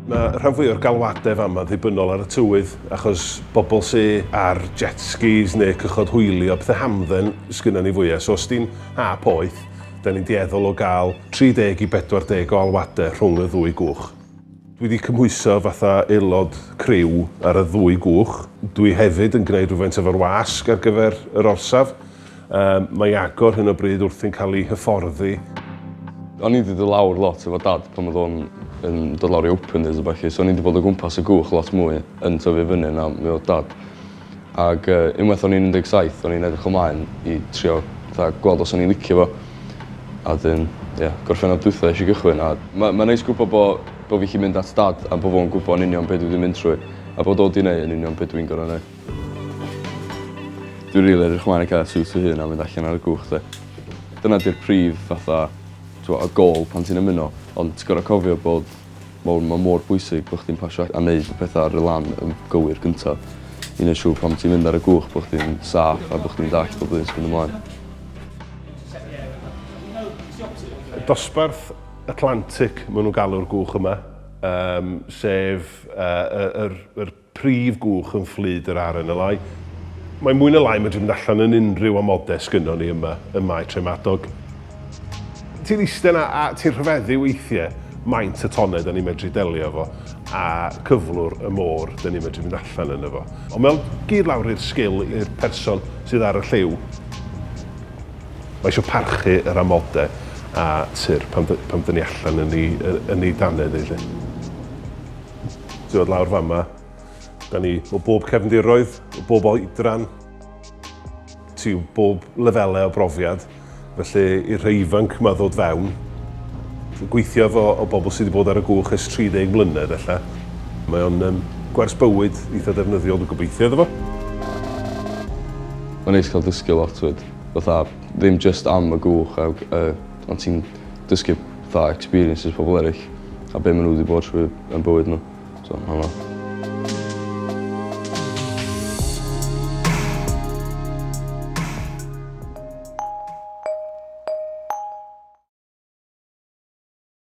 Mae rhan fwy o'r galwadau fama ddibynnol ar y tywydd, achos bobl sy ar jet skis neu cychod hwylio, pethau hamdden sgynna ni fwya. So os di'n ha poeth, da ni'n dueddol o gael 30 i 40 o alwadau rhwng y ddwy gwch. Dwi wedi cymhwyso fatha aelod criw ar y ddwy gwch. Dwi hefyd yn gwneud rhywfaint efo'r wasg ar gyfer yr orsaf. Yym, mae agor hyn o bryd wrthi'n cael ei hyfforddi. O'n i 'di dod lawr lot efo Dad pan odd o'n yn dod lawr i open days a ballu so o'n i 'di bod o gwmpas y gwch lot mwy yn tyfu fyny na mi odd Dad. Ag yy unwaith o'n i'n un deg saith o'n i'n edrych ymlaen i trio fatha gweld os o'n i'n licio fo. A 'dyn ie Gorffennaf dwitha esh i gychwyn a ma' ma'n neis gwbo bo' bo' fi 'llu mynd at Dad a bo' fo'n gwbo yn union be' dwi 'di mynd trwy a bod o 'di neu' yn union be' dwi'n gor'o' neu'. Dwi rili edrych ymlaen i ca'l siwt fy hun a mynd allan ar y cwch 'de. Dyna 'di'r prif fatha t'mo' y gôl pan ti'n ymuno ond ti gor'o' cofio bod mor ma' mor bwysig bo' chdi'n pasio a- a neud y petha ar y lan yn gywir gynta i neu' siŵr pan ti'n mynd ar y gwch bo' chdi'n saff a bo' chdi'n dallt pob yn myn' ymlaen. Dosbarth Atlantic ma' nw'n galw'r gwch yma yym sef yy y yr yr prif gwch yn fflyd yr RNLI. Mae mwy na lai yn medru mynd allan yn unrhyw amodau sgynnon ni yma ym Mae Tref Madog. Ti'n iste 'na a ti'n rhyfeddu weithie maint y tonnau 'da ni'n medru delio efo a cyflwr y môr 'da ni'n medru mynd allan yno fo. Ond mae o'n gyd lawr i'r sgil i'r person sydd ar y lliw. Mae isio parchu yr amodau a tur pan pan 'da ni allan yn 'i yn 'i danedd 'i 'lly. Ti'n dod lawr fan yma. Da ni o bob cefndiroedd, o bob oedran, ti o bob lefelau o brofiad. Felly i'r rhai ifanc yma ddod fewn, gweithio efo o bobl sydd wedi bod ar y gwch ers 30 mlynedd ella. Mae o'n um, gwers bywyd eitha defnyddiol, dwi'n gobeithio iddo fo. Mae'n neis cael dysgu lot fyd. Fatha, ddim just am y gwch a uh, Ond ti'n dysgu fatha experiences pobol eryll a be' ma' n'w 'di bod trwy yn bywyd n'w so ma' hwnna...